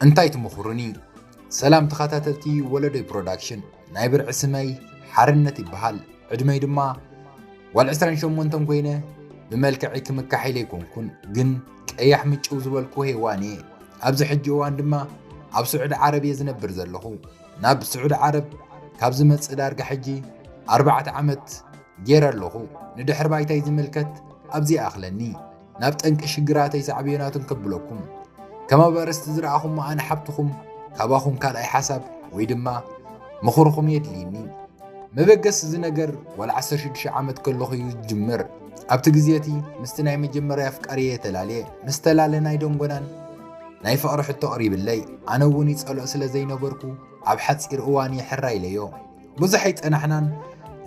እንታይ ትምኹሩኒ? ሰላም ተኸታተልቲ ወለዶይ ፕሮዳክሽን፣ ናይ ብርዒ ስመይ ሓርነት ይበሃል። ዕድመይ ድማ ጓል 28 ኮይነ ብመልክዒ ክምካሒለ ኣይኮንኩን፣ ግን ቀያሕ ምጭው ዝበልኩ ሄዋን እየ። ኣብዚ ሕጂ እዋን ድማ ኣብ ስዑዲ ዓረብ እየ ዝነብር ዘለኹ። ናብ ስዑዲ ዓረብ ካብ ዝመጽእ ዳርጋ ሕጂ ኣርባዕተ ዓመት ጌረ ኣለኹ። ንድሕሪ ባይታይ ዝምልከት ኣብዚ ይኣኽለኒ። ናብ ጠንቂ ሽግራተይ ሳዕቤናቱን ከብለኩም ከም ኣበርስቲ ዝረኣኹሞ ኣነ ሓብትኹም ካባኹም ካልኣይ ሓሳብ ወይ ድማ ምኽርኹም የድልይኒ። መበገሲ እዚ ነገር ዋላ 16 ዓመት ከለኹ እዩ ዝጅምር። ኣብቲ ግዜ እቲ ምስቲ ናይ መጀመርያ ኣፍቃሪየ ተላልየ። ምስ ተላለና ኣይደንጎናን። ናይ ፍቕሪ ሕቶ ቕሪብለይ ኣነ እውን ይጸልኦ ስለ ዘይነበርኩ ኣብ ሓጺር እዋን እየ ሕራይ ኢለዮ። ብዙሕ ኣይጸናሕናን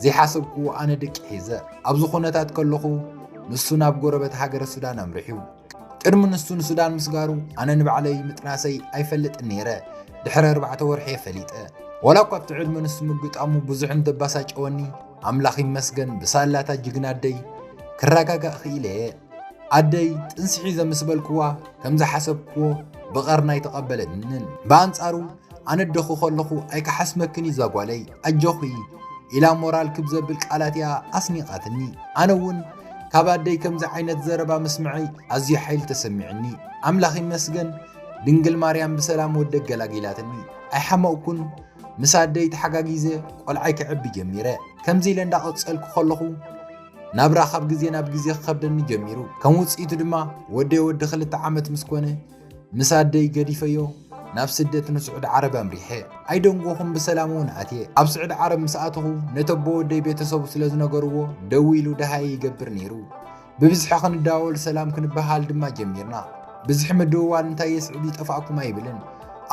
ዘይሓሰብክዎ ኣነ ድቂ ሒዘ ኣብ ዝኾነታት ከለኹ ንሱ ናብ ጎረበት ሃገረ ሱዳን ኣምርሕዩ። ቅድሚ ንሱ ንሱዳን ምስጋሩ ኣነ ንባዕለይ ምጥናሰይ ኣይፈልጥን ነይረ ድሕሪ ኣርባዕተ ወርሒ እየ ፈሊጠ። ዋላ እኳ ኣብቲ ዕድመ ንሱ ምግጣሙ ብዙሕ እንተባሳጨወኒ ኣምላኽ ይመስገን ብሳላታ ጅግና ኣደይ ክረጋጋእ ክኢለ እየ። ኣደይ ጥንሲ ሒዘ ምስ በልክዋ ከም ዝሓሰብክዎ ብቐርና ኣይተቐበለንን። ብኣንጻሩ ኣነ ደኹ ከለኹ ኣይከሓስመክን እዛ ጓለይ ኣጆኺ ኢላ ሞራል ክብ ዘብል ቃላት እያ ኣስኒቓትኒ። ኣነ እውን ካብ ኣደይ ከምዚ ዓይነት ዘረባ ምስምዐይ ኣዝዩ ሓይሊ ተሰሚዕኒ። ኣምላኽ ይመስገን ድንግል ማርያም ብሰላም ወደ ገላጊላትኒ። ኣይሓመቕኩን ምስ ኣደይ ተሓጋጊዘ ቆልዓይ ክዕቢ ጀሚረ። ከምዚ ኢለ እንዳቐጸልኩ ከለኹ ናብራ ካብ ግዜ ናብ ግዜ ክኸብደኒ ጀሚሩ ከም ውፅኢቱ ድማ ወደይ ወዲ ክልተ ዓመት ምስ ኮነ ምስ ኣደይ ገዲፈዮ ናብ ስደት ንስዑድ ዓረብ ኣምሪሐ ኣይደንጎኹም ብሰላም እውን ኣትየ ኣብ ስዑድ ዓረብ ምስ ኣተኹ ነተቦ ወደይ ቤተሰቡ ስለ ዝነገርዎ ደው ኢሉ ደሃየ ይገብር ነይሩ ብብዝሒ ክንዳወል ሰላም ክንበሃል ድማ ጀሚርና ብዝሒ ምድውዋል እንታይ የስዕብ ይጠፋእኩም ኣይብልን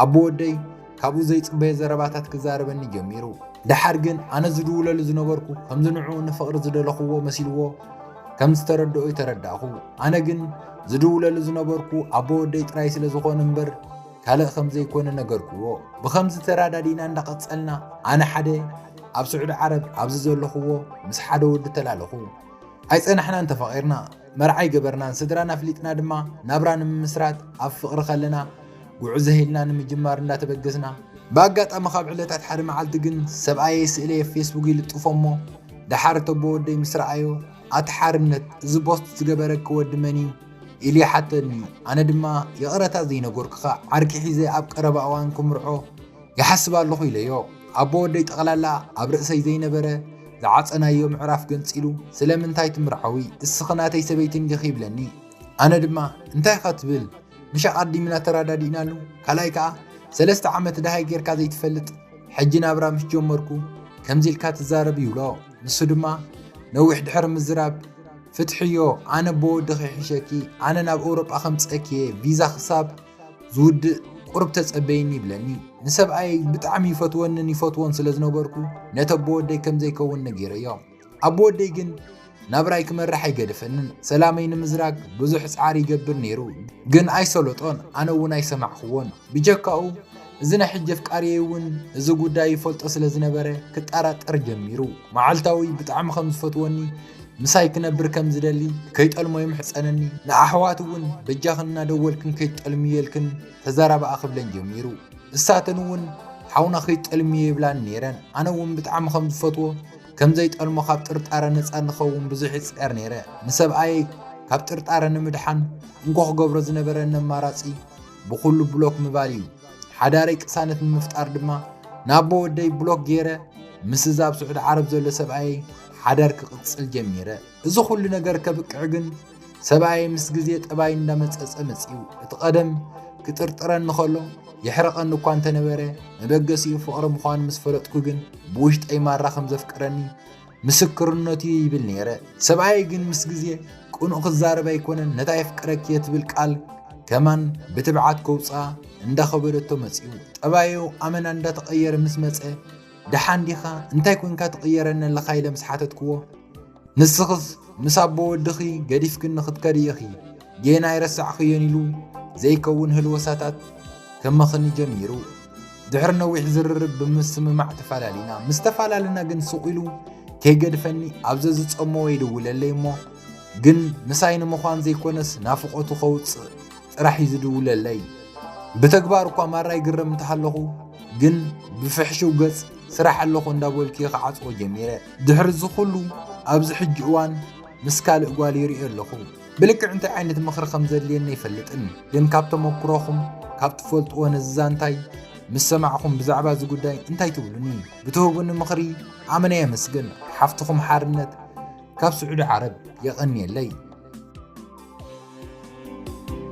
ኣቦ ወደይ ካብኡ ዘይጽበዮ ዘረባታት ክዛረበኒ ጀሚሩ። ደሓር ግን ኣነ ዝድውለሉ ዝነበርኩ ከምዚ ንዕኡ ንፍቕሪ ዝደለኹዎ መሲልዎ ከም ዝተረድኦ'ዩ ተረዳእኹ። ኣነ ግን ዝድውለሉ ዝነበርኩ ኣቦ ወደይ ጥራይ ስለ ዝኾነ እምበር ካልእ ከም ዘይኮነ ነገርኩዎ። ብኸምዚ ተረዳዲእና እንዳቐጸልና ኣነ ሓደ ኣብ ስዑዲ ዓረብ ኣብዚ ዘለኹዎ ምስ ሓደ ወዲ ተላለኹ። ኣይጸናሕናን ተፋቒርና። መርዓይ ገበርናን ስድራን ኣፍሊጥና ድማ ናብራ ንምምስራት ኣብ ፍቕሪ ከለና ጉዕዘ ኢልና ንምጅማር እንዳተበገስና ብኣጋጣሚ ካብ ዕለታት ሓደ መዓልቲ ግን ሰብኣየይ ስእለይ ኣብ ፌስቡክ ይልጥፎ እሞ ደሓር እተቦ ወደይ ምስ ረኣዮ ኣቲ ሓርነት እዚ ቦስት ዝገበረኪ ወዲ መን እዩ ኢሉ ይሓተኒ ኣነ ድማ ይቕረታ ዘይነጎርክኻ ዓርኪ ሒዘ ኣብ ቀረባ እዋን ክምርዖ ይሓስብ ኣለኹ ኢለዮ። ኣቦ ወደይ ጠቕላላ ኣብ ርእሰይ ዘይነበረ ዝዓጸናዮ ምዕራፍ ገንጺሉ ስለምንታይ ትምርዓዊ እስኺ ናተይ ሰበይቲ እንዲኺ ይብለኒ። ኣነ ድማ እንታይ ኢኻ ትብል ምሽ ኣቐዲምና ተረዳዲእናሉ ካልኣይ ከኣ ሰለስተ ዓመት ደሃይ ጌርካ ዘይትፈልጥ ሕጂ ናብራ ምስ ጀመርኩ ከምዚ ኢልካ ትዛረብ ይብሎ። ንሱ ድማ ነዊሕ ድሕሪ ምዝራብ ፍትሕዮ ኣነ ኣቦ ወድኺ ይሕሸኪ ኣነ ናብ ኤውሮጳ ከምጽአኪ እየ ቪዛ ክሳብ ዝውድእ ቁርብ ተጸበይኒ ይብለኒ። ንሰብኣየይ ብጣዕሚ ይፈትወንን ይፈትዎን ስለ ዝነበርኩ ነቲ ኣቦ ወደይ ከም ዘይከውን ነጊረዮ። ኣቦ ወደይ ግን ናብራይ ክመርሕ ኣይገደፈንን። ሰላመይ ንምዝራግ ብዙሕ ጻዕሪ ይገብር ነይሩ፣ ግን ኣይሰለጦን፣ ኣነ እውን ኣይሰማዕክዎን። ብጀካኡ እዚ ናይ ሕጂ ኣፍቃርየይ እውን እዚ ጉዳይ ይፈልጦ ስለ ዝነበረ ክጠራጠር ጀሚሩ። መዓልታዊ ብጣዕሚ ከም ዝፈትወኒ ምሳይ ክነብር ከም ዝደሊ ከይጠልሞ ይምሕጸነኒ። ንኣሕዋት እውን በጃኽን እናደወልክን ከይትጠልምየልክን ተዘራብኣ ክብለን ጀሚሩ። እሳተን እውን ሓውና ከይትጠልምዮ ይብላኒ ነይረን። ኣነ እውን ብጣዕሚ ከም ዝፈትዎ ከም ዘይጠልሞ ካብ ጥርጣረ ነጻ ንኸውን ብዙሕ ይጽዕር ነይረ። ንሰብኣየይ ካብ ጥርጣረ ንምድሓን እንኮ ክገብሮ ዝነበረኒ ኣማራጺ ብኹሉ ብሎክ ምባል እዩ። ሓዳረይ ቅሳነት ንምፍጣር ድማ ናቦ ወደይ ብሎክ ገይረ ምስ እዛ ኣብ ስዑዲ ዓረብ ዘሎ ሰብኣየይ ሓዳር ክቕፅል ጀሚረ። እዚ ኩሉ ነገር ከብቅዕ ግን ሰብኣየይ ምስ ግዜ ጠባይ እንዳመፀፀ መፅዩ። እቲ ቀደም ክጥርጥረኒ ከሎ የሕረቐኒ እኳ እንተነበረ መበገሲኡ ፍቕሪ ምዃኑ ምስ ፈለጥኩ ግን ብውሽጠይ ማራ ከም ዘፍቅረኒ ምስክርነቱ እዩ ይብል ነይረ ሰብኣይ ግን ምስ ግዜ ቅኑእ ክዛረብ ኣይኮነን ነታ የፍቅረኪ እየ ትብል ቃል ከማን ብትብዓት ከውፃ እንዳኸበደቶ መፅኡ ጠባዩ ኣመና እንዳተቐየረ ምስ መፀ ደሓን ዲኻ እንታይ ኮንካ ትቕየረኒ ኣለኻ ኢለ ምስ ሓተትክዎ ንስኽስ ምስ ኣቦ ወድኺ ገዲፍክኒ ክትከዲ ኢኺ ጌና ኣይረሳዕክዮን ኢሉ ዘይከውን ህልወሳታት ከመኽኒ ጀሚሩ። ድሕሪ ነዊሕ ዝርርብ ብምስምማዕ ተፈላለና። ምስ ተፈላለና ግን ሱቕ ኢሉ ከይገድፈኒ ኣብ ዘዝጸመወ ይድውለለይ እሞ ግን ምሳይ ንምዃን ዘይኮነስ ናፍቖቱ ከውጽእ ጥራሕ እዩ ዝድውለለይ። ብተግባር እኳ ማራ ይግረም እንተሃለኹ ግን ብፍሕሽው ገጽ ስራሕ ኣለኹ እንዳበልኩ ክዓጽዎ ጀሚረ። ድሕሪ እዚ ኩሉ ኣብዚ ሕጂ እዋን ምስ ካልእ ጓል ይርእዮ ኣለኹ። ብልክዕ እንታይ ዓይነት ምኽሪ ከም ዘድልየኒ ኣይፈልጥን፣ ግን ካብ ተመኩሮኹም ካብ ትፈልጥዎ ነዚ ዛንታይ ምስ ሰማዕኹም ብዛዕባ እዚ ጉዳይ እንታይ ትብሉኒ? ብትህቡኒ ምኽሪ ኣመና የመስግን። ሓፍትኹም ሓርነት ካብ ስዑዲ ዓረብ የቐንየለይ።